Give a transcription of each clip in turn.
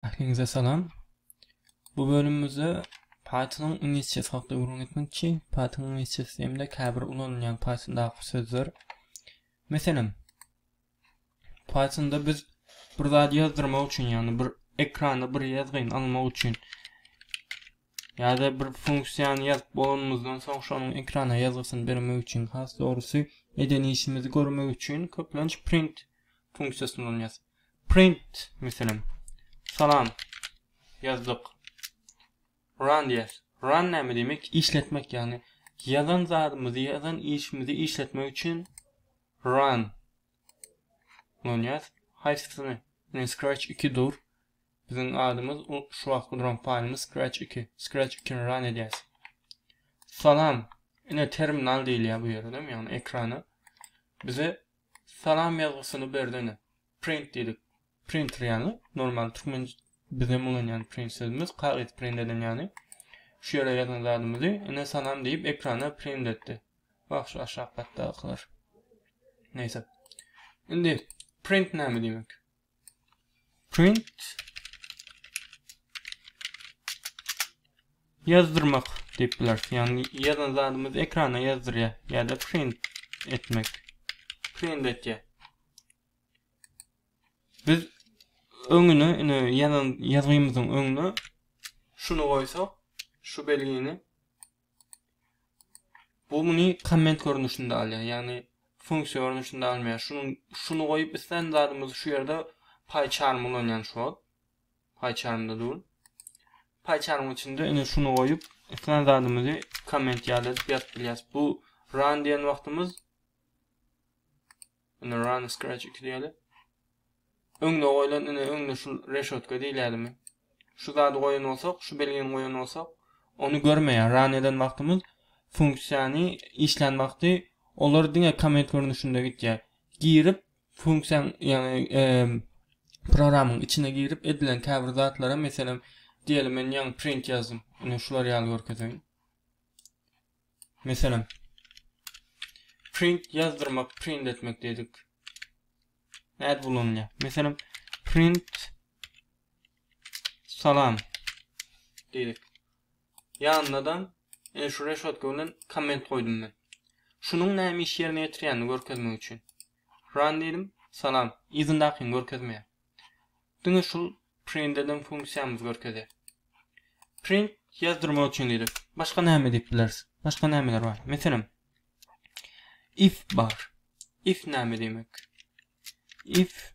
Ähliňize salam. Bu bölümimizde Python-yň inýesiýasy hakda gürrüň etmekçi. Python inýesiýasy hem-de käbir ulanylýan Python-daky sözler. Meselem, Python-da biz bir zat ýazdyrmak üçin, ýagny bir ekrana bir ýazgyny almak üçin ýa-da bir funksiýany ýazyp bolanymyzdan soň şonuň ekrana ýazgysyny bermek üçin, has dogrusy, eden işimizi görmek üçin köplenç print funksiýasyny ulanýarys. Print, meselem, Salam, ýazdyk. Run diýýäs. Run näme diýmek? Işletmek, ýagny ýazan zadymyzy, ýazan işimizi işletmek üçin run ulanýas. Haýsysyny? Ine, Scratch 2 dur. Biziň adymyz şu wagtky duran faýlymyz Scratch 2. Scratch 2-ni run edýäs. Salam. Ine, terminal diýilýär bu ýerdem, ýagny ekrana. Bize Salam ýazgysyny bersene. Print diýdik. Printer ýaly normal türkmen bizem ulanýan print sözümiz kagyz print eden ýaly. Şu ýere ýazan zadymyzy ine salam diýip ekrana print etdi. Wah şu aşak gatdakylar. Neýse. Indi print näme diýmek? print ýazdyrmak diýip bileris. Ýagny ýazan zadymyzy ekrana ýazdyrýar ýa-da print etmek. Print etýär. Biz öňüne, ine ýazan ýazgymyzyň öňüne şuny goýsak, şu belgini Bu muny komment görnüşinde alýar. Ýagny funksiýa görnüşinde almaýar. Şunuň şuny goýup islän zadymyzy şu ýerde PyCharm ulanýan şu wagt. PyCharmda dur. PyCharm içinde ine şuny goýup islän zadymyzy komment ýaly edip ýazyp bilýäris. Bu run diýen wagtymyz Ine run scratch iki diýeli. Öňde goýlan ine öňde şu reşotka diýilýärmi? Şu zady goýan bolsak, şu belgini goýan bolsak, ony görmeýär. Run eden wagtymyz funksiýany işlän wagty olar diňe komment görnüşinde gitýär. Girip funksiýaň ýagny programyň içine girip edilen käbir zatlara meselem diýeli men ýaňy print ýazdym. Ine şular ýaly görkezeýin. Meselem, print ýazdyrmak, print etmek diýdik. Nädip ulanylýar? Meselem, print salam diýdik. Ýanyna-da ene şu reşotka bilen komment goýdum men. Şunuň näme iş ýerine ýetirýänini görkezmek üçin. Run diýdim. Salam. Yzyndakyny görkezmeýär. Diňe şul print eden funksiýamyz görkezýär. Print ýazdyrmak üçin diýdik. Başga näme diýip bileris? Başga nämeler bar? Meselem, if bar. If näme diýmek? If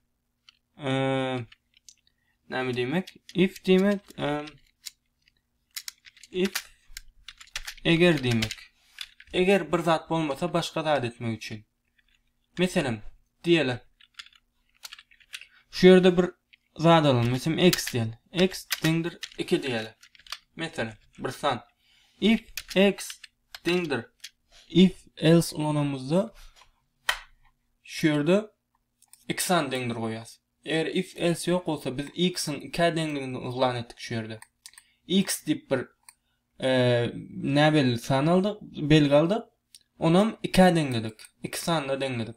näme diýmek? If diýmek if eger diýmek. Eger bir zat bolmasa başga zat etmek üçin. Meselem, diýeli. Şu ýerde bir zat alalım. Meselem, x diýeli. x deňdir 2 diýeli. Meselem, bir san. If x deňdir if else ulanamyzda şu ýerde iki san deňdir goýýas. Eger if else ýok bolsa biz x-iň 2 deňdigini yglan etdik şu ýerde. x diýip bir Nä belli san aldyk, belgi aldyk. Onam ikä deňledik. Iki sanda deňledik.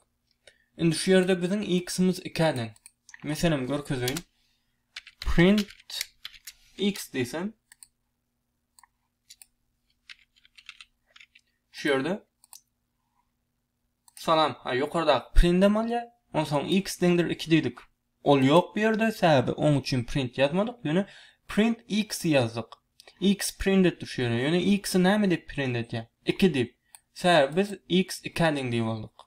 Indi şu ýerde biziň x-imiz ikä deň. Meselem görkezeýin. Print x diýsem. Şu ýerde Salam, a ýokardaky prindem alýa, onsoň x deňdir iki diýdik. Ol ýok bu ýerde, sebäbi oň üçin print ýazmadyk, ýöne print x ýazdyk. X print etdi şu ýere, ýöne x-i näme diýip print edýä? Iki diýip. Sebäbi biz x ikä deň diýip aldyk.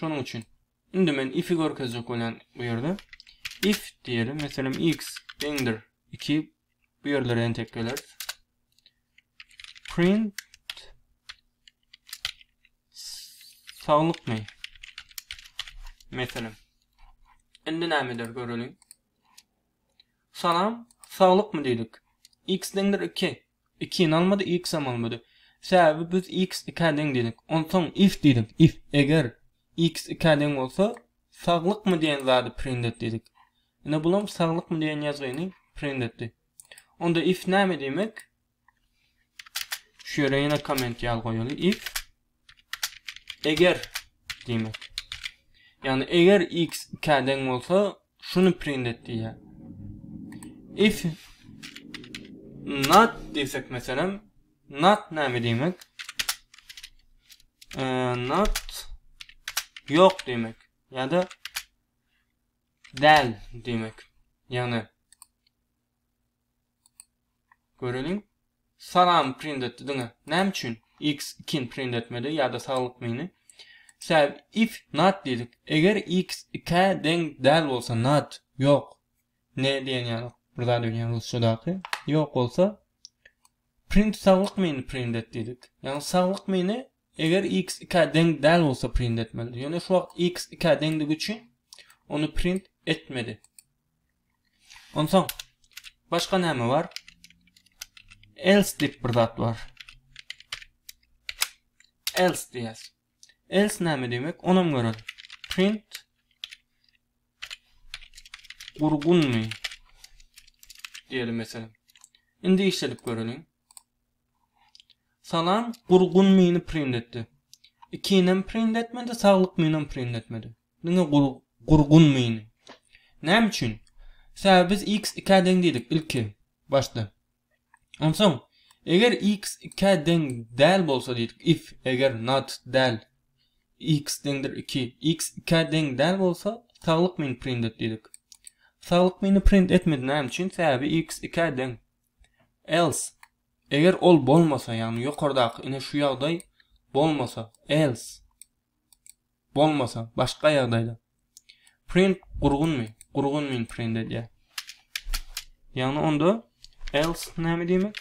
Şonuň üçin. Indi men if-i görkezjek bolýan bu ýerde. If diýeli, meselem, x deňdir iki, bu ýerlere entek geleris. Print saglykmy? Meselem. Indi näme eder göreliň. Salam, saglykmy diýdik. X deňdir 2. Ikini almady, iksem almady. Säbäbi biz iks ikä deň diýdik. Onsoň if diýdik, if, eger, iks ikä deň bolsa, saglykmy diýen zady print et diýdik. Ine bulam saglykmy diýen ýazgyny print etdi. Onda if näme diýmek? Şu ýere ýene komment ýaly goýaly, if Eger diýmek. Ýagny eger x 2-ä deň bolsa, şuny print et diýýär. If not diýsek meselem, not näme diýmek? E, not ýok diýmek. Ýa-da däl diýmek. Ýagny Göreliň. Salam print etdi diňe. Näme üçin? X ikin print etmedi ýa-da saglyk mini. Sebäbi if not diýdik. Eger x ikä deň däl bolsa not ýok. Ne diýen ýaly bir zat öýdýän rusçadaky. Ýok bolsa print saglyk mini print et diýdik. Ýagny saglyk mini eger x ikä deň däl bolsa print etmeli. Ýöne şu wagt x ikä deňdigi üçin ony print etmedi. Onsoň başga näme bar? Else diýip bir zat bar. Else diýýäs. Else näme diýmek? Onam görelim. Print gurgunmy? Diýelim meselem. Indi işledip göreliň. Salam, gurgun mini print etdi. Ikinem print etmedi, saglyk minem print etmedi. Diňe gurgun mini. Näme üçin? Sebäbi biz x ikä deň diýdik ilki başda. Onsoň eger x ikä deň däl bolsa diýdik if eger not däl x deňdir iki x ikä deň däl bolsa saglyk mini print et diýdik. Saglyk mini print etmedi näme üçin? Sebäbi x ikä deň. Else eger ol bolmasa ýagny ýokardaky ine şu ýagdaý bolmasa else Bolmasa, başga ýagdaýda. Print gurgunmy? Gurgunmyny print edýär. Ýagny onda else näme diýmek?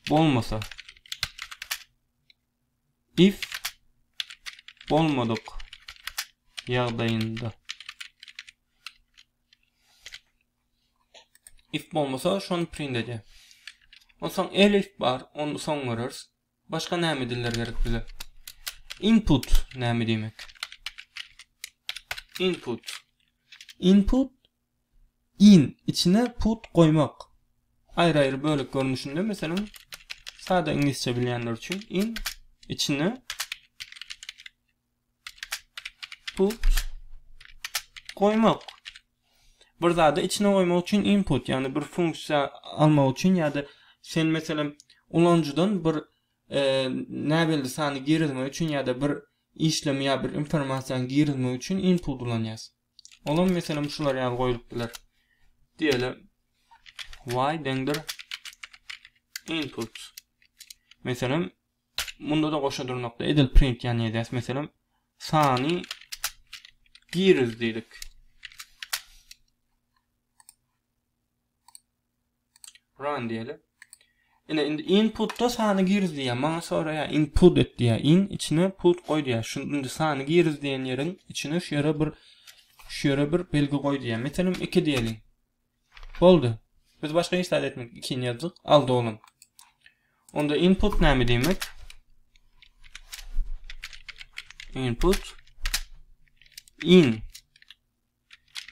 Bolmasa. If bolmadyk ýagdaýynda. if bolmasa şony print edýär. Onsoň elif bar, onu soň görürs. Başga näme diller gerek bize? Input näme diýmek? Input. Input in içine put goýmak. Aýry-aýry bölek görnüşinde meselem sada iňlisçe bilýänler üçin in içine Put goýmak. Bir zady içine goýmak üçin input, ýagny bir funksiýa almak üçin ýa-da sen meselem ulanyjydan bir e, näbelli sany girizmek üçin ýa-da bir işlemi ýa bir informasiýany girizmek üçin input ulanýas. Olam meselem şular ýaly goýulyp biler. Diýeli y deňdir input. Meselem Munda-da goşa durnakda edil print ýany ýazýas. Meselem, sany giriz diýdik. Run diýeli. Ine indi inputda sany giriz diýýär. Maňa soraýar, input et diýýär. In içine put goý diýýär. Şu indi sany giriz diýen ýeriň içine şu ýere bir şu ýere bir belgi goý diýýär. Meselem 2 diýeli. Boldy. Biz başga hiç zat etmedik. Ikini ýazdyk. Al dolan. Onda input näme diýmek? Input in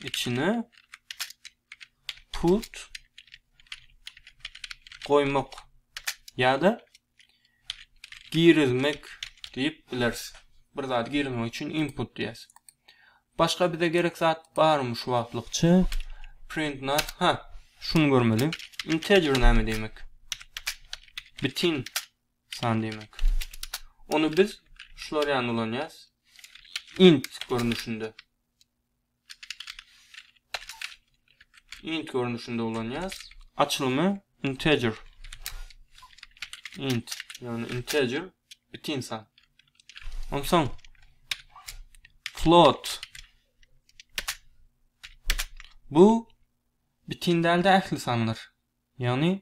içine put goýmak ýa-da girizmek diýip bileris. Bir zady girizmek üçin input diýýäs. Başga bize gerek zat barmy şu wagtlykça? Print not. Ha, şuny görmeli. Integer näme diýmek? Bitin san diýmek. Ony biz şular ýaly ulanýas. Int görnüşinde. int görnüşinde ulanýarys. Açylymy integer int, ýagny integer bitin san. Onsoň float bu bitin dälde ähli sanlar. Ýagny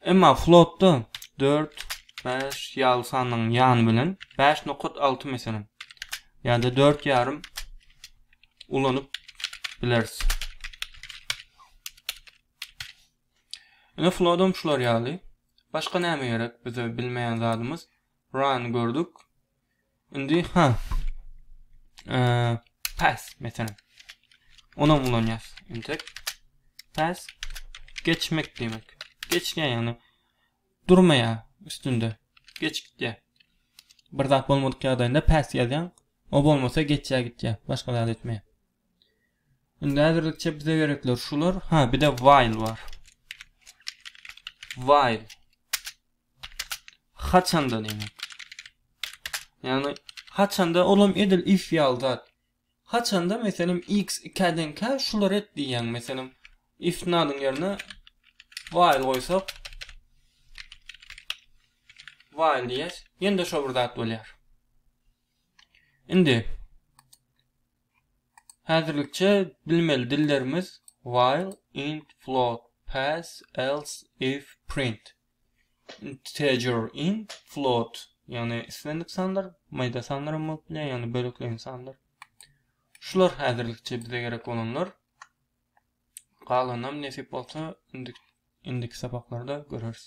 Emma flotda dört, bäş ýaly sanyň ýany bilen bäş nokat alty meselem, ýa-da dört ýarym ulanyp bileris. Ine flodam şular ýaly. Başga näme gerek bize bilmeýän zadymyz? Run gördük. Indi ha. Eee pass mesela. Onam ulanýas. Entek pass geçmek diýmek. Geçýär ýagny durmaýar üstünde. Geçip gitýär. Bir zat bolmadyk ýagdaýynda pass ýazýaň. O bolmasa geçýär gitýär. Başga zat etmeýär. Indi häzirlikçe bize gerekler şular. Ha, bir de while bar. While. Haçanda diýmek. Ýagny haçanda olam edil if ýaly zat. Haçanda meselem x 2-ä deňkä şulary et diýýäň. Meselem if nadyň ýerine while goýsak while diýýäs. Ýene-de şo bir zat bolýar. Indi häzirlikçe bilmeli dillerimiz while, int, float, pass, else, if, print. integer int float ýagny islendik sanlar maýda sanlar hem bolup bilýär ýagny bölekleýin sanlar şular häzirlikçe bize gerek bolanlar galanam nesip bolsa indiki sapaklarda göreriz